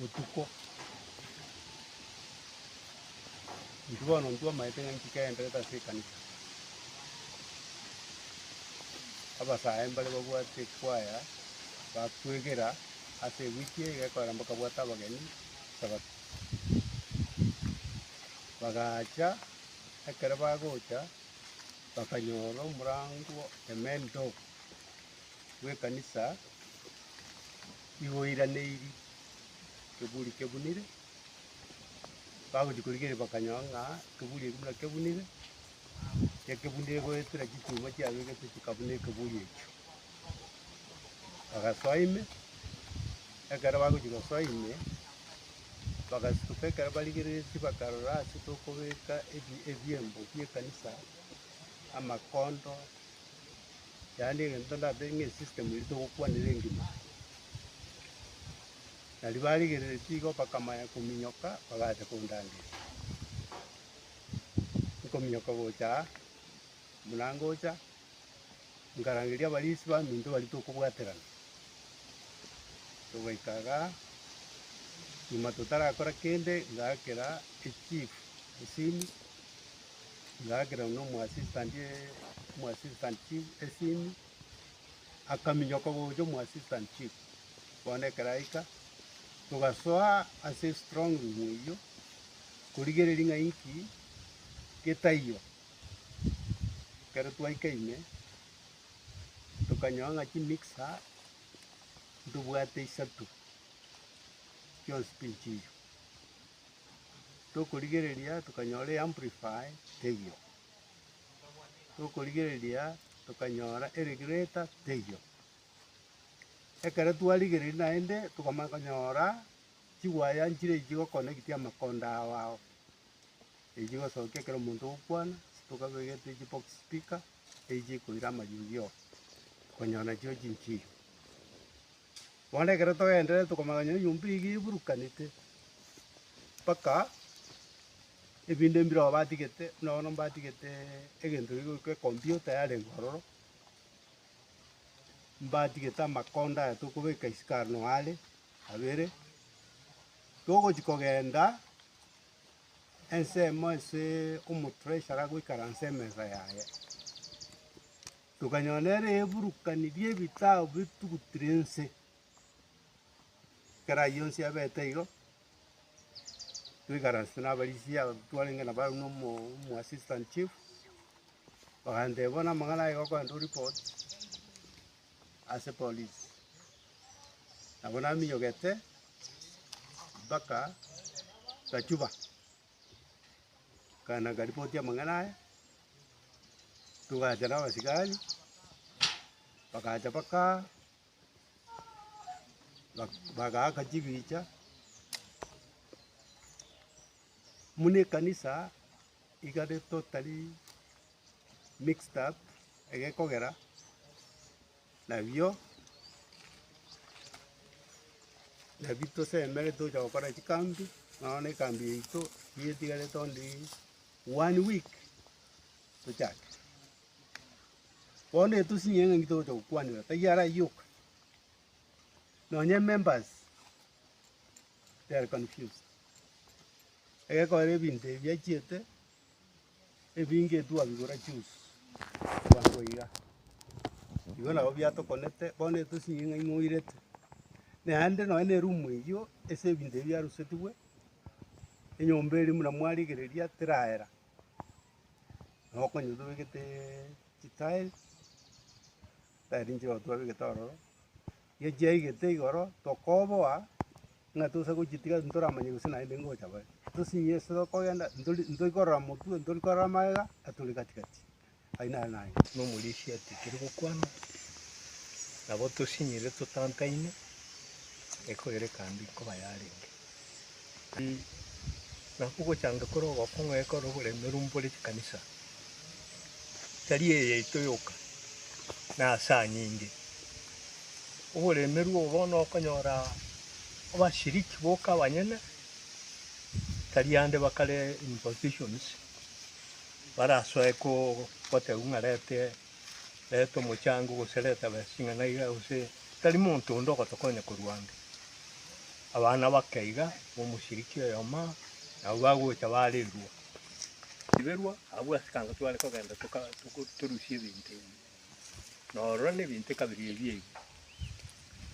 botuko. Inki bono intwe omanyete ng'a inki kegenderete ase ekanisa? Abasae mbare babwate ekwaya, bakwegera ase ewiki eye egekorera bakabwata abageni Sabato. Bagacha, ekero bagocha, bakanyora omorango, the main door, bw'ekanisa Nigo oiraneiri ekeburi kebunire, bagochia korigereria bakanyora ng'a ekeburi ekio buna kebunire, ekebunire goetera chituuma chiabegetwe chikabuna ekeburi ekio. Bagasoa ime, ekero bagochia gosoa ime, bagasituka ekero barigereire ase bakarora ase tokobeka ebi- ebiembo bi'ekanisa, amakondo. Yaani egento ndabere ng'a esystem eria togokwanera engima aa. Naria barigereretie igo bakamanya kominyoka bagacha kondangeria. Nkominyoka gocha aa, buna ngocha, nkarangeria abarisi baminto baria tokobwaterana, togaika igaa, nyuma totarakora kende, ngaakera echief esimi. Ng'akera nomoassistant omoassistant chief esimi, akaminyoka gocha omoassistant chief. Bono ekero aika, togasoa ase estrong room eyio, korigereria ng'a inki getaiyo. Ekero twaika ime, tokanyora ng'a chimixer ntobwate isato, chionsi pi nchiiyio. tokorigereria tokanyora eAmplify teiyo, tokorigereria tokanyora eRegulator teiyo. Ekero twarigereiri naende tokamanya konyora chiwaya nchire echi chigokonecti amakondo ao ao, echi chigosokia ekero omonto ogokwana, tokabegete chibox speaker, echi chikoira amariogi oo, konyora nachio chinchiyo. Bono ekero togendererete komanya ng'a enyomba eyio eburukanete, mpaka ebinto mbire ago batigete, buna bono mbatigete egento kegio goika ekompiuta yarenge ororo, mbatigete amakonda aya tokobeka isiko aro nao are abere, togochi kogenda ensemo ase omotreasurer agoikaranse emesa yaye. Tokanyora nere eburukani ri'ebitabu bitugutire inse, ekero ayio onsi abete igo, twaikaransa nabarisia aba twarenge nabo arabwo na omo omo assistant chief, bagantebia bono amang'ana aye gokoenda oreport ase polisi. Nabo naminyogete mpaka gachuba. Nkaana nkaripoti amang'ana aya, togacha na abasigari, bagacha bakaa, bak- bagaaka chibicha, muna ekanisa igare totally mixed up egekogera. Nabio, nabio tosemere tocha gokora chikambi, nonya na ekambi yaito nigo etigarete onde one week tochake. Bono etosinye ng'a inki togocha gokwanera, taiyo araiyo oka. Nonya members they are confused, egekorera ebinto ebi achiete. Ebinge ebi twabigora chionsi abanto baiga, igo nabo biatokonete bono etosinyi ng'a imoirete. Naende nonye ne erumu eyio ase ebinto ebi biarusetigwe, enyomba eria buna mwarigereria teraera, nabo okonyora tobegete chitiles, tayari nchirogo twabegete ororo, Gechiaigete igoro, tokoboa ng'a tosa gochitiga ase toramanye gose naende ngocha bare. Tosinye ase tokogenda, ntori ntori korora motwe, ntori korora magega, ng'a tore gati gati. Ayio naro naye. Nomorisia atigire gokwana, nabo tosinyire totantaine, ekogera ekambi nkoba yarenge. Naki ogochange kore ogokong'u ekero oboremeru mbore chikanisa tari eye yaito yoka, na ase anyinge. Oboremeru obo bono okonyora abashiriki boka abanyene tari ande bakare in positions barasoe ko- gotebiwa ng'a rete. Reta omochango, gose reta besa ing'ana iga, gose tari monto onde ogotokonya korwa ande. Abana bake iga b'omoshiriki oyomo aa, nabwo bagocha barerwa. Riberwa, abwo ase ekanga tware kogenda toka togo torusia ebinto ebi. Na ororo na ebinto ekabere ebi eywo.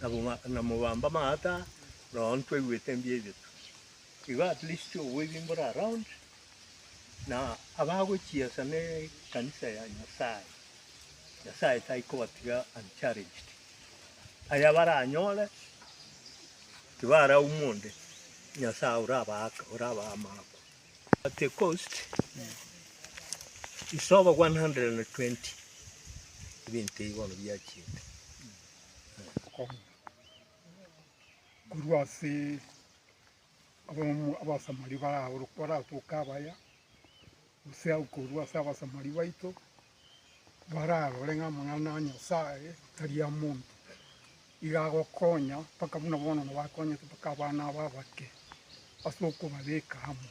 Nabo ma na mobambe amato aa, nonya ntwaigwete mbuya ebitu. Igo at least obwebi mbore around, Na abagochiesa nekanisa ya Nyasae, Nyasae taikobatiga unchallenged. Aya baranyore tibaraumwa onde, Nyasae orabaaka, orabaa amaakwa. At the cost is over 120 ebinto ebi bono biachete. Korwa ase Abamura Abasamari baraoroke, baratoke abaya, gose agwo korwa ase Abasamari baito, bararore ng'a amang'ana a Nyasae tari a monto, iga agokonya mpaka buna bono nabo akonyete mpaka abana aba abake, ase okobabeka amo.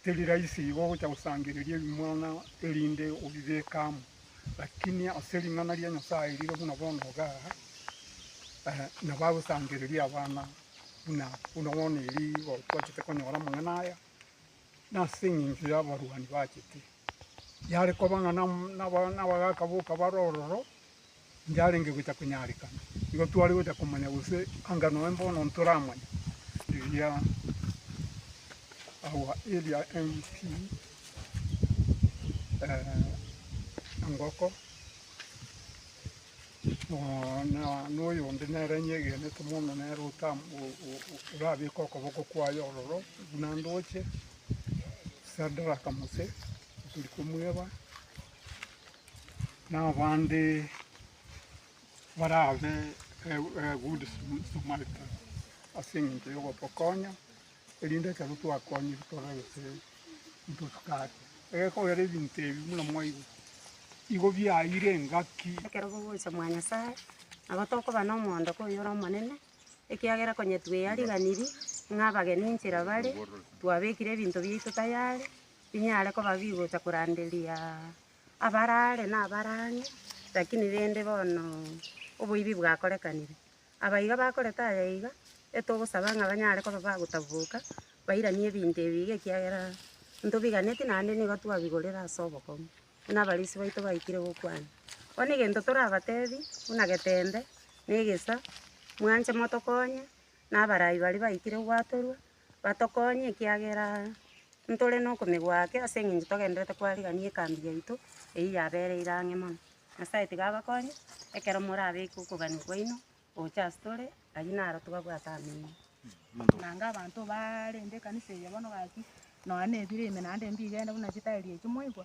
Teri rahisi igo ogocha gosangereria ebimwana erinde obibeke amo, lakini ase ring'ana ria Nyasae rire buna bono igaa, nabo agosangereria abana aba. buna buna bono eri igo twachete konyora amang'ana aya, nase eng'encho y'abarwani bachete. Yare koba ng'a nam- naba- nabagaka boka bare ororo, yarenge gocha konyarekana. Igo tware gocha komanya gose anga noe mbono ntoramanye eria our area MP Engoko. na oyonde nere nyegenete mono nere orabeke okoboko kwaye ororo buna ndoche, Sadraka Mose, tari komweba, na abande barabe a good Samaritan ase eng'encho y'ogotokonya. Erinde ekero twakonyire tore gete intwe tokate egekogera ebinto ebi buna mwaigwa, igo biaeire engaki. Ekero bogocha mwa Nyasae, nabo tokoba nomoondoko oyore omonene, ekiagera konya tweyariganiri ng'a abageni inchera bare, twabekire ebinto biaito tayari, binyare koba bigocha koranderia abare aare na abare ang'e, rakini rende bono oboibi bwakorekanire. Abaiga bakorete aya iga, etogosaba ng'a banyare koba bagotaboboka, bairanie ebinto ebi iga ekiagera ntobiganetie naende nigo twabigorire ase obokong'u, buna abarisia baito baikire gokwana. Bono egento torabatebi, buna getembe, na egesa, mwanche motokonye, na abarai baria baikire gwatorwa. Batokonye, ekiagera ntore nokomegwa ake ase eng'encho togendererete kwarigania ekambi yaito eyio yabereire ang'e mono. Nyasaye tiga abakonye, ekero morabeke okogania kwaino gocha ase tore, ayio naro tobabwate amen. Naende abanto baarenge ekanisa eye bono gaki, nonya nebiro ime naende mbigo ende buna chitairi echio, mwaigwa?